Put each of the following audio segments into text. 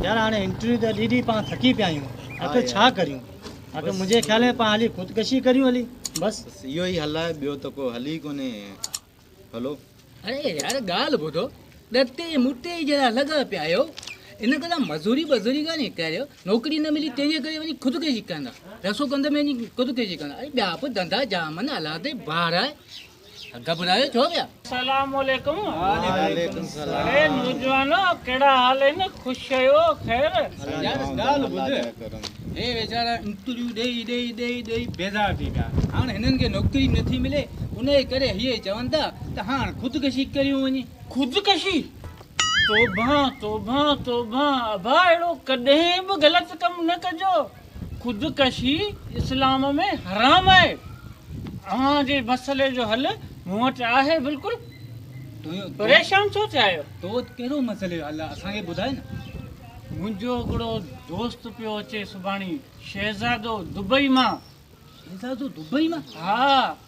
يار هاڻي انٽرويو ته ڏي ڏي پان ٿڪي پيا آهيون آخر ڇا ڪريون آخر منهنجي خيال ۾ پان هلي خودڪشي ڪريون هلي بس اهو ئي حل آهي ٻيو ته ڪو حل ئي ڪونهي هلو اڙي يار ڳالهه ٻڌو ڏتي مٽي جهڙا لڳا پيا آهيو ان ڪري مزوري بزوري ڪانهي ڪريو نوڪري نه ملي تنهنجي ڪري وڃي خودڪشي ڪندا رسو ڪندا ۾ وڃي خودڪشي ڪندا اڙي ٻيا به ڌندا جام آهن اولاد بار آهي گهٻرايو ڇو پيا؟ سلام عليڪم اڙي نوجوانو ڪهڙا حال آهن خوش آهيو خير. يار ڳالهه ٻڌ هي ويچارا انٽرويو ڏئي ڏئي ڏئي ڏئي بيزار ٿي پيا هاڻ هنن کي نوڪري به نٿي ملي انهي ڪري هي چون ٿا ته هاڻ خودڪشي ڪريون وڃي. خودڪشي؟ توبه توبه توبه ابا اهڙو ڪڏهن به غلط ڪم نه ڪجو. خودڪشي اسلام ۾ حرام آهي اوهان جي مسئلي جو حل مون وٽ آهي بلڪل پريشان ڇو ٿيا آهيو تو وٽ ڪهڙو مسئلي جو حل آهي اسان کي ٻڌاء نه منهنجو هڪڙو دوست پيو اچي سڀاڻي شهزادو دبئي مان شهزادو دبئي مان ها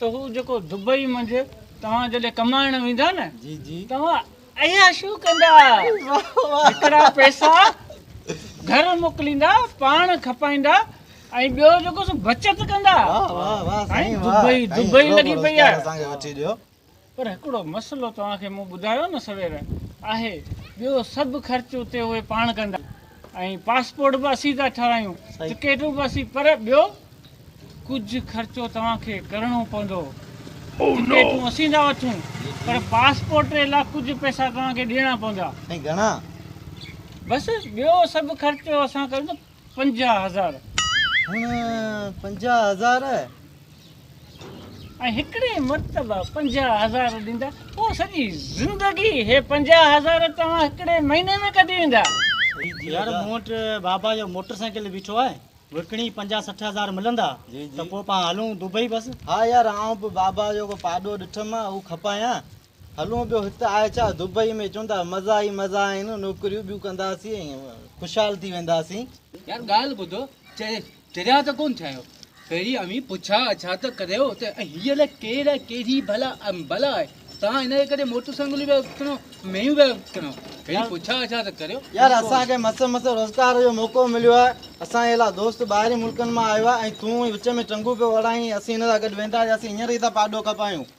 ته هو جيڪو دبئي منجهه توهان جڏهن ڪمائڻ ويندا نه توهان عياشيون ڪندا هڪڙا پئسا گهر موڪليندا پاڻ کپائيندا ۽ ٻيو جيڪو سو بچت ڪندا دبئي دبئي لڳي پئي آهي پر هڪڙو مسئلو توهان کي مون ٻڌايو نه سوير آهي، ٻيو سڀ خرچ اتي اهي پاڻ ڪندا ۽ پاسپورٽ به اسين ٿا ٺارايون، ٽڪيٽون به اسين پر ٻيو ڪجهه خرچو توهان کي ڪرڻو پوندو، ٽڪيٽون اسين ٿا وٺون پر پاسپورٽ جي لا ڪجهه پئسا توهان کي ڏيڻا پوندا. سائين گهڻا؟ بس ٻيو سڀ خرچ اسان ڪندا. پنجاهه هزار. هن پنجاهه هزار. ۽ هڪڙي مرتبه پنجاهه هزار ڏيندا، پوء سڄي زندگي هي پنجاهه هزار توهان هڪڙي مهيني ۾ ڪڍي ويندا. يار مون وٽ بابا جو موٽر سائيڪل بيٺو آهي، وڪڻي پنجاهه سٺ هزار ملندا ته پوء پاڻ هلون دبئي بس. ها يار آئون به بابا جو ڪو پاڏو ڏٺم ها، اهو کپايان. هلون ٻيو هت آء ڇا دبئي ۾ چوندا مزا ئي مزا آهن نوڪريون ٻيون ڪنداسين ۽ خوشحال ٿي وينداسين. يار ڳالهه ٻڌو چريا ته ڪونه ٿيا آهيو پهرين اوهين پڇا اڇا ته ڪريو ته هيء نه ڪير آهي ڪهڙي ڀلا بلا آهي توهان هن جي ڪري موٽر سائيڪلون پيا وڪڻو مينهون پيا وڪڻو پهرين پڇا اڇا ته ڪريو. يار اسان کي مس مس روزگار جو موقعو مليو آهي اسان جي اهڙا دوست ٻاهرين ملڪن مان آيو آهي ۽ تون وچ ۾ ٽنگون پيو اڙائين اسين هن سان گڏ ويندا هياسين هينئر ئي ٿا پاڏو کپايون.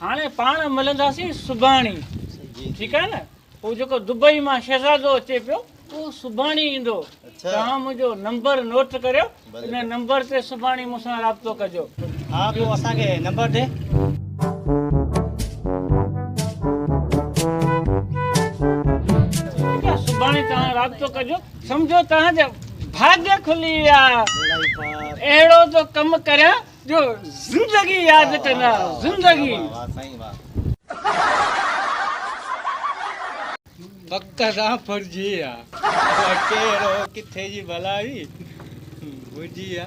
هاڻي پاڻ ملنداسين سڀاڻي ٺيڪ آهي نه هو جيڪو دبئي مان شهزادو اچي پيو اهو سڀاڻي ايندو توهان منهنجو نمبر نوٽ ڪريو ان نمبر تي سڀاڻي مون سان رابطو ڪجو ها ٻيو اسان کي نمبر ڏي رابطو ڪجو سمجهو توهان جا ڀاڳ کلي ويا اهڙو ٿو ڪم ڪريان جو زندگي ياد ڪنا زندگي واه سائين واه وقت سان ڦرجي آ ڪهڙو ڪٿي جي ڀلائي هجي آ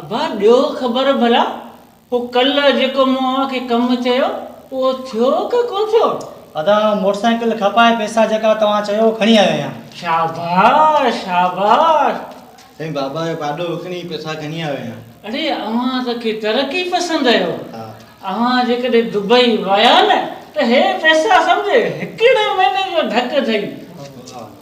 ابا ڏيو خبر ڀلا هو ڪلهه جيڪو مون اوهان کي ڪم چيو اهو ٿيو ڪه ڪو ٿيو؟ ادا موٽر سائيڪل کپائي پئسا جيڪا توهان چيو کڻي آيو آهيان. شاباش شاباش. سائين بابا جو پاڏو وڪڻي پئسا کڻي آيو آهيان. اڙي اوهان ته ڪي ترقي پسند آهيو. اوهان جيڪڏهن دبئي ويا نه ته هي پئسا سمجهه هڪڙي مهيني جو ڍڪ اٿئي.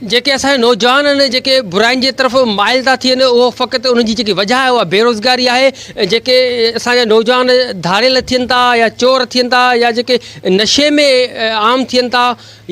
جيڪي اسان جا نوجوان آهن جيڪي براين جي طرف مائل ٿا ٿين اهو فقط انهن جي جيڪي وجهه آهي اها بيروزگاري آهي جيڪي اسان جا نوجوان ڌاڙيل ٿين ٿا يا چور ٿين ٿا يا جيڪي نشي ۾ عام ٿين ٿا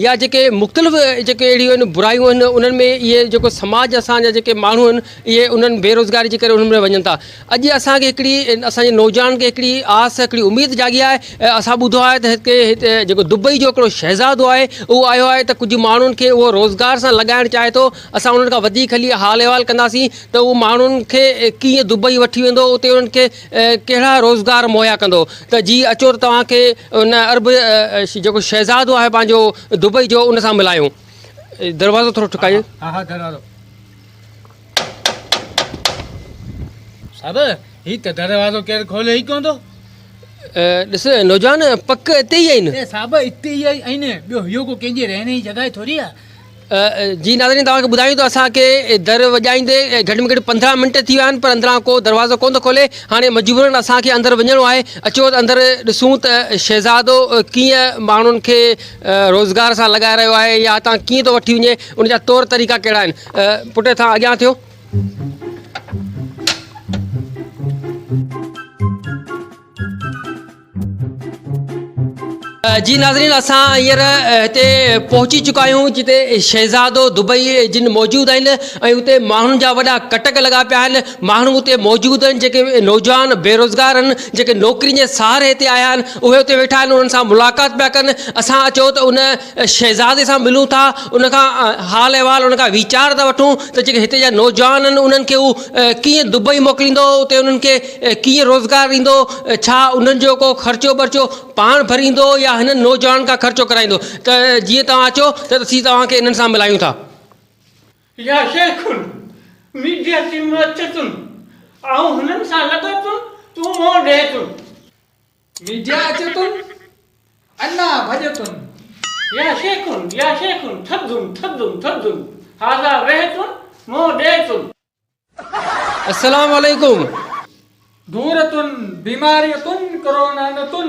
يا جيڪي مختلف جيڪي اهڙيون آهن برايون آهن انهن ۾ اهي جيڪو سماج اسان جا جيڪي ماڻهو آهن اهي انهن بيروزگاري جي ڪري انهن ۾ وڃن ٿا اڄ اسان کي هڪڙي اسان جي نوجوانن کي هڪڙي آس هڪڙي اميد جاڳي آهي اسان ٻڌو آهي ته هتي هتي جيڪو دبئي جو هڪڙو شهزادو آهي اهو آيو آهي ته ڪجهه ماڻهن کي اهو روزگار سان لڳائڻ چاهي ٿو اسان انهن کان وڌيڪ هلي حال احوال ڪنداسين ته اهو ماڻهن کي ڪيئن دبئي وٺي ويندو اتي انهن کي ڪهڙا روزگار مهيا ڪندو ته جي اچو ته توهان کي ان عرب جيڪو شهزادو آهي پنهنجو دبئي جو ان سان ملايون دروازو ٿورو ٺڪايو. صاحب هي ته دروازو ڪير کولي ئي ڪونه ٿو. ڏس نوجوان پڪ اتي ئي آهن. اي صاحب اتي ئي آهن ٻيو هيو ڪو ڪنهن جي رهڻ جي جڳهه ٿوري آهي. جي ناظرين توهان کي ٻڌايون ته اسان کي در وڄائيندي گهٽ ۾ گهٽ پندرهن منٽ ٿي ويا آهن پر اندران ڪو دروازو ڪونه ٿو کولي هاڻي مجبورن اسان کي اندر وڃڻو آهي اچو ته اندر ڏسون ته شهزادو ڪيئن ماڻهن کي روزگار سان لڳائي رهيو آهي يا هتان ڪيئن ٿو وٺي وڃي. ان جا طور طريقا ڪهڙا آهن؟ پٽ ٿا اڳيان ٿيو. جي ناظرين اسان هينئر هتي پهچي چڪا آهيون جتي شهزادو دبئي جن موجود آهن ۽ اتي ماڻهن جا وڏا ڪٽڪ لڳا پيا آهن ماڻهو اتي موجود آهن جيڪي نوجوان بيروزگار آهن جيڪي نوڪرين جي سهاري هتي آيا آهن اهي اتي ويٺا آهن انهن سان ملاقات پيا ڪن اسان چيو ته ان شهزادي سان ملون ٿا ان کان حال احوال ان کان ويچار ٿا وٺون ته جيڪي هتي جا نوجوان آهن انهن کي هو ڪيئن دبئي موڪليندو اتي انهن کي ڪيئن روزگار ڏيندو ڇا انهن جو ڪو خرچو برچو پاڻ ڀريندو يا هنن نوجوانن کان خرچو ڪرائيندو ته جيئن توهان اچو ته اسين توهان کي انهن سان ملايون ٿا. يا شيخن، ميڊيا ٽيم اچي ٿن آئون هنن سان لڳا ٿن تون منهن ڏي ٿن. ميڊيا اچي تون انا ڀڄ تون. يا شيخن يا شيخن ٿڌن ٿڌن ٿڌن هاذا ويهه تون منهن ڏي تون. السلام عليڪم دور تون بيماري تون ڪرونا نه تون.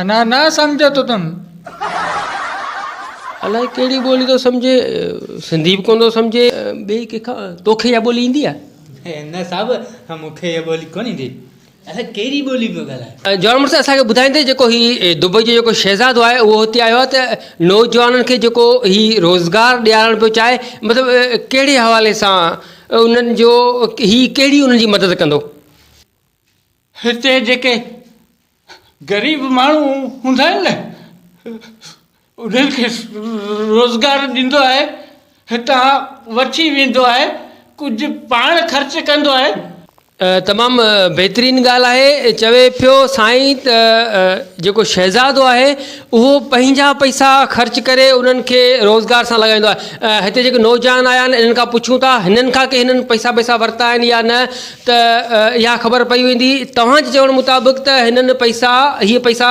انا نا سمجهه تو تم. الائي ڪهڙي ٻولي ٿو سمجهين سنڌي به ڪونه ٿو سمجهين ٻئي ڪنهن کان توکي اها ٻولي ايندي آهي. انا صاحب مون کي اها ٻولي ڪونه ايندي الائي ڪهڙي ٻولي پيو ڳالهائين. جوان مڙس اسان کي ٻڌائيندي جيڪو هي دبئي جو جيڪو شهزادو آهي اهو هتي آيو آهي ته نوجوانن کي جيڪو هي روزگار ڏيارڻ پيو چاهي مطلب ڪهڙي حوالي سان انهن جو هي ڪهڙي انهن جي مدد ڪندو. هتي جيڪي غريب ماڻهو هوندا آهن نه انهن کي روزگار ڏيندو آهي هتان وٺي ويندو آهي ڪجهه پاڻ خرچ ڪندو آهي. تمام بهترين ڳالهه آهي چوي پيو سائين ته جيڪو شهزادو آهي اهو پنهنجا پئسا خرچ ڪري انهن کي روزگار سان لڳائيندو آهي هتي جيڪي نوجوان آيا آهن انهن کان پڇون ٿا هنن کان ڪنهن پئسا بئسا ورتا آهن يا نه ته اها خبر پئي ويندي. توهان جي چوڻ مطابق ته هنن پئسا هي پئسا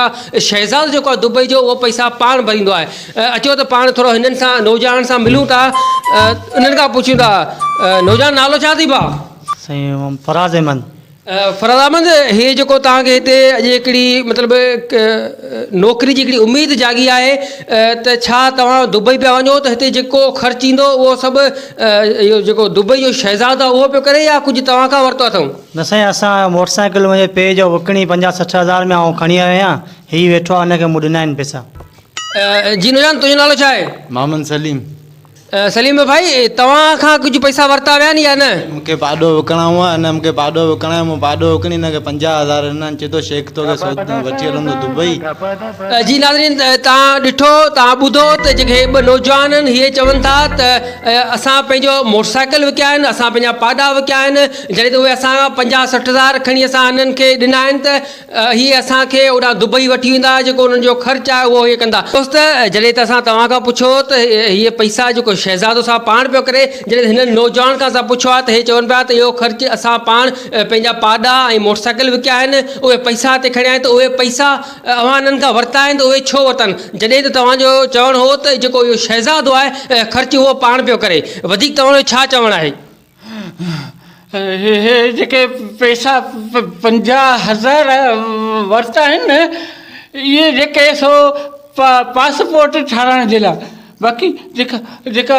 شهزاد جيڪو آهي دبئي جو اهو پئسا پاڻ ڀريندو آهي. اچو ته پاڻ ٿورو هنن سان نوجوانن سان ملون ٿا انهن کان پڇون ٿا نوجوان نالو ڇا اٿئي ڀاء؟ سائين فراز احمد. فراز احمد هي جيڪو توهان کي هتي اڄ هڪڙي مطلب نوڪري جي هڪڙي اميد جاڳي آهي ته ڇا توهان دبئي پيا وڃو ته هتي جيڪو خرچ ايندو اهو سڀ اهو جيڪو دبئي جو شهزاد آ اهو پيو ڪري يا ڪجهه توهان کان ورتو اٿئون؟ نه سائين اسان موٽر سائيڪل منهنجي پيء جو وڪڻي پنجاهه سٺ هزار ۾ آئون کڻي آيو آهيان هي ويٺو آ هن کي مون ڏنا آهن پئسا. جي نوجوان تنهنجو نالو ڇا آهي؟ محمد سليم. سليم ڀائي توهان کان ڪجهه پئسا ورتا ويا آهن يا نه؟ مون کي پاڏو وڪڻائون هو هن مون کي پاڏو وڪڻايو مون پاڏو وڪڻي هن کي پنجاهه هزار ڏنا آهن چي ٿو شيخ توکي سوڌو وٺي هلندو دبئي. جي ناظرين توهان ڏٺو توهان ٻڌو ته جيڪي هي ٻه نوجوان آهن هي چون ٿا ته اسان پنهنجو موٽر سائيڪل وڪيا آهن اسان پنهنجا پاڏا وڪيا آهن جڏهن ته اهي اسان کان پنجاهه سٺ هزار کڻي اسان هنن کي ڏنا آهن ته هي اسان کي اوڏانهن دبئي وٺي ويندا جيڪو انهن جو خرچ آهي اهو هي ڪندا دوست جڏهن ته اسان توهان کان پڇو ته هي پئسا جيڪو شهزادو صاحب پاڻ پيو ڪري جڏهن هنن نوجوانن کان اسان پڇو آهي ته هي چون پيا ته اهو خرچ اسان پاڻ پنهنجا پاڏا ۽ موٽر سائيڪل وڪيا آهن اهي پئسا هتي کڻيا آهن ته اهي پئسا اوهان انهن کان ورتا آهن ته اهي ڇو ورتن؟ جڏهن ته توهان جو چوڻ هو ته جيڪو اهو شهزادو آهي خرچ اهو پاڻ پيو ڪري. وڌيڪ توهان جو ڇا چوڻ آهي؟ اهي جيڪي پئسا پنجاهه هزار ورتا آهن اهي جيڪي سو پاسپورٽ ٺاهرائڻ جي لاء باقي جيڪا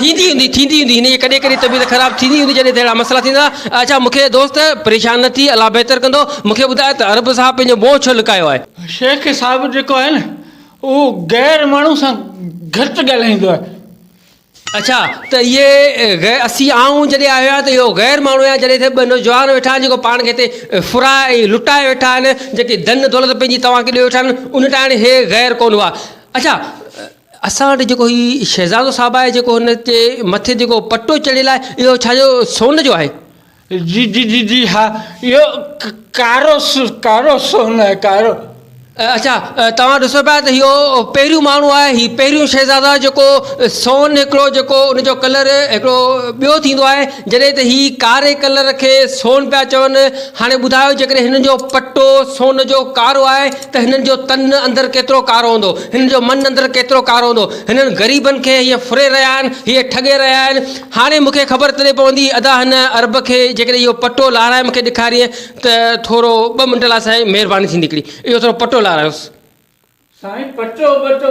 ٿيندي هوندي ٿيندي هوندي هن جي ڪڏهن ڪڏهن طبيعت خراب ٿيندي هوندي جڏهن ته اهڙا مسئلا ٿيندا اچا مون کي دوست پريشان نه ٿي الله بهتر ڪندو مون کي ٻڌاء ته عرب صاحب پنهنجو منهن ڇو لڪايو آهي. شيخ صاحب جيڪو آهي نه اهو غير ماڻهو سان گهٽ ڳالهائيندو آهي. اچا ته اهي غير اسين آئون جڏهن آهيو آهيان ته اهو غير ماڻهو يا جڏهن ته ٻه نوجوان ويٺا آهن جيڪو پاڻ کي هتي ڦرائي ۽ لٽائي ويٺا آهن جيڪي ڌن دولت پنهنجي توهان کي ڏيئي ويٺا آهن ان ٽائڻي هي غير ڪونه هئا اچا اسان وٽ جيڪو هي شهزادو صاحب آهي جيڪو هن جي مٿي جيڪو پٽو چڙهيل آهي اهو ڇا جو سون جو آهي؟ جي جي جي جي ها اهو ڪارو ڪارو سون آهي ڪارو. اڇا توهان ڏسو پيا ته اهو پهريون ماڻهو آهي هي پهريون شهزادو آهي جيڪو سون هڪڙو جيڪو ان جو ڪلر هڪڙو ٻيو ٿيندو آهي جڏهن ته هي ڪاري ڪلر کي سون پيا چون هاڻي ٻڌايو جيڪڏهن هن جو پٽو سون جو ڪارو آهي ته هنن جو تن اندر ڪيترو ڪارو هوندو، هنن جو من اندر ڪيترو ڪارو هوندو، هنن غريبن کي هيئن ڦري رهيا آهن، هيئن ٺڳي رهيا آهن، هاڻي مون کي خبر تڏهن پوندي ادا هن عرب کي جيڪڏهن اهو پٽو لارائي مون کي ڏيکارين ته ٿورو ٻه منٽ لاء سائين مهرباني ٿيندي هڪڙي اهو ٿورو پٽو لارائيونس. سائين پٽو ٻٽو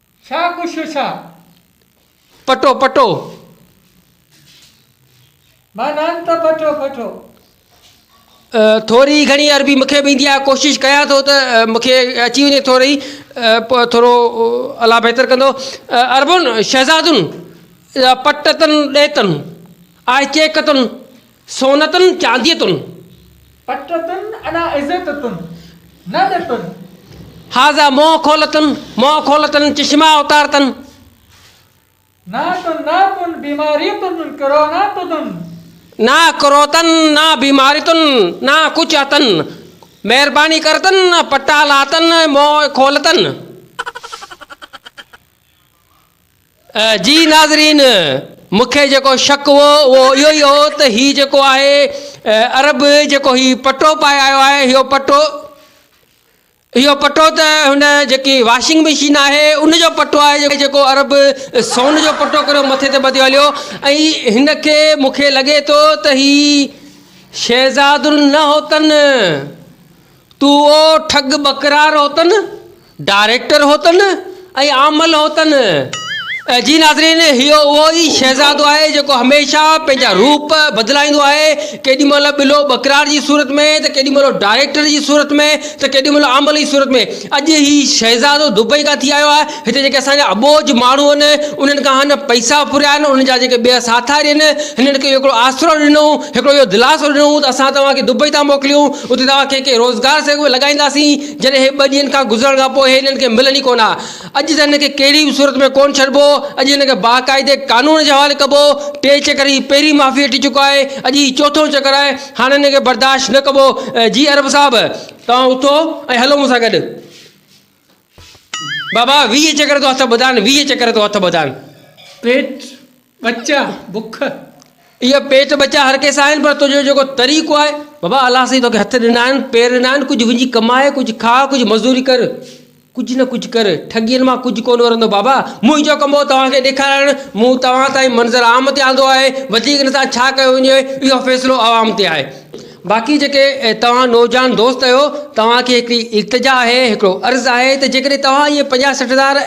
شا ڪشو شا، پٽو پٽو. مان نان ته پٺو پٺو. ٿوري گهڻي عربي مون کي به ايندي آهي ڪوشش ڪيان ٿو ته مون کي اچي وڃي ٿوري پوء ٿورو الله بهتر ڪندو عربن شهزادن پٽتن ڏيتن آهي چيڪتن سون تن چانديء تن. پٽ تن ادا عزت تن، نه ڏي تن. هازا منهن کول تن، منهن کول تن، چشما اتار تن. نا تن، نا تن، بيماري تن، ڪرونا تدن. نا ڪرو تن، نا بيماري تن، نا ڪچ اتن. مهرباني ڪر تن، پٽا لا تن، منهن کول تن. جي ناظرين مون کي جيڪو شڪ هو اهو اهو ئي هو ته هي جيڪو آهي عرب جيڪو هي پٽو پائي آيو آهي اهو پٽو اهو پٽو ته هن جيڪي واشنگ مشين آهي ان جو پٽو آهي جيڪو عرب سون جو پٽو ڪريو مٿي تي ٻڌيو هليو ۽ هن کي مون کي لڳي ٿو ته هي شهزاد النحوتن تون او ٺڳ ٻڪرار هوتن، ڊائريڪٽر هوتن ۽ عامل هوتن. جي ناظرين هيء اهو ئي شهزادو آهي جيڪو هميشه پنهنجا روپ بدلائيندو آهي، ڪيڏي مهل ٻلو ٻڪرار جي صورت ۾ ته ڪيڏي مهل ڊائريڪٽر جي صورت ۾ ته ڪيڏي مهل عامل جي صورت ۾. اڄ هي شهزادو دبئي کان ٿي آيو آهي. هتي جيڪي اسان جا اٻوجهه ماڻهو آهن، انهن کان هن پئسا ڦريا آهن، انهن جا جيڪي ٻيا ساٿاري آهن، هنن کي هڪڙو آسرو ڏنو، هڪڙو اهو دلاسو ڏنو ته اسان توهان کي دبئي ٿا موڪليون، اتي توهان کي ڪنهن روزگار سان به لڳائينداسين، جڏهن هي ٻه ڏينهن کان گذرڻ کان پوء هي هنن کي ملن ئي ڪونه ها. اڄ ته هنن کي ڪهڙي به صورت ۾ ڪونه ڇڏبو، اڄ هنن کي باقاعدي قانون جي حوالي ڪبو، ٽي چڪر هي پهرين معافي وٺي چڪو آهي، اڄ هي چوٿون چڪر آهي، هاڻ هنن کي برداشت نه ڪبو، جي ارب صاحب توهان اٿو ۽ هلو مون سان گڏ. بابا ويهه چڪر تو هٿ ٻڌان ويهه چڪر تو هٿ ٻڌان. پيٽ ٻچا بک. اهي پيٽ ٻچا هر ڪنهن سان آهن پر تنهنجو جيڪو طريقو آهي. بابا الله سائين توکي هٿ ڏنا آهن پير ڏنا آهن ڪجهه وڃي ڪماء ڪجهه کاء ڪجهه مزوري ڪر ڪجهه نه ڪجهه ڪر ٺڳين مان ڪجهه ڪونه ورندو بابا منهنجو ڪم هو توهان کي ڏيکارڻ مون توهان تائين منظر عام تي آندو آهي وڌيڪ نه تان ڇا ڪيو وڃي اهو فيصلو عوام تي آهي. باقي جيڪي توهان نوجوان دوست آهيو توهان کي هڪڙي التجا آهي هڪڙو عرض آهي ته جيڪڏهن توهان اهي پنجاهه سٺ هزار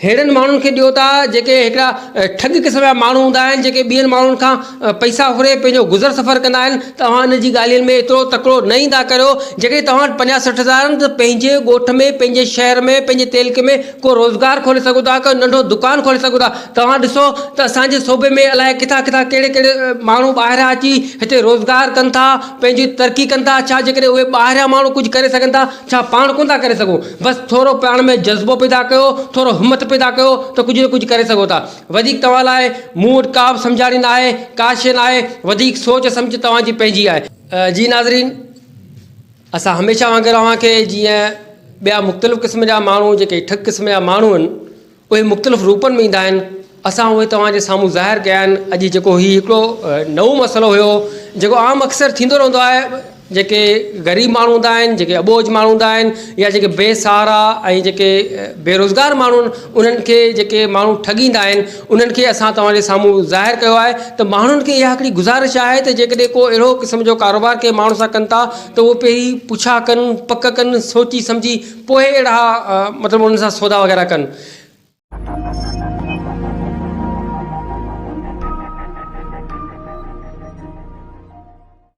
ههڙن ماڻهن کي ڏيو ٿا جيڪي هڪڙا ٺڳ قسم جا ماڻهو هوندا آهن جيڪي ٻين ماڻهن کان پئسا ڦري پنهنجو گذر سفر ڪندا آهن ته اوهان انهن جي ڳالهين ۾ ايترو تڪڙو نه ايندا ڪريو جيڪڏهن توهان وٽ پنجاهه سٺ هزار آهن ته پنهنجي ڳوٺ ۾ پنهنجي شهر ۾ پنهنجي تعلقي ۾ ڪو روزگار کولي سگهو ٿا ڪو ننڍو دڪان کولي سگهو ٿا توهان ڏسو ته اسانجي صوبي ۾ الاء ڪٿان ڪٿان ڪهڙي ڪهڙي ماڻهو ٻاهران اچي هتي روزگار ڪن ٿا پنهنجي ترقي ڪن ٿا ڇا جي ڪڏهن اهي ٻاهريان ماڻهو ڪجهه ڪري سگهن ٿا ڇا پاڻ ڪونه ٿا ڪري سگهون بس ٿورو پاڻ ۾ جذبو پيدا ڪيو ٿورو همٿ پيدا ڪيو ته ڪجهه نه ڪجهه ڪري سگهو ٿا وڌيڪ توهان لاء مون وٽ ڪا به سمجهاڻي ناهي ڪا شيء ناهي وڌيڪ سوچ سمجهه توهان جي پنهنجي آهي جي ناظرين! اسان هميشه وانگر اوهان کي جيئن ٻيا مختلف قسم جا ماڻهو جيڪي ٺڪ قسم جا ماڻهو آهن اهي مختلف روپن ۾ ايندا آهن اسان اهي توهان جي سامهون ظاهر ڪيا آهن اڄ جيڪو هي هڪڙو نئون مسئلو هيو جيڪو عام اڪثر ٿيندو رهندو آهي جيڪي غريب ماڻهو هوندا آهن جيڪي اٻوجهه ماڻهو هوندا آهن يا جيڪي بي سهارا ۽ جيڪي بيروزگار ماڻهو آهن انهن کي جيڪي ماڻهو ٺڳيندا آهن انهن کي اسان توهان جي سامهون ظاهر ڪيو آهي ته ماڻهن کي اها هڪڙي گذارش آهي ته جيڪڏهن ڪو اهڙو قسم جو ڪاروبار ڪنهن ماڻهو سان ڪن ٿا ته اهو پهرين پڇا ڪن پڪ ڪن سوچي سمجهي پوء اهڙا مطلب انهن سان سودا وغيره ڪن.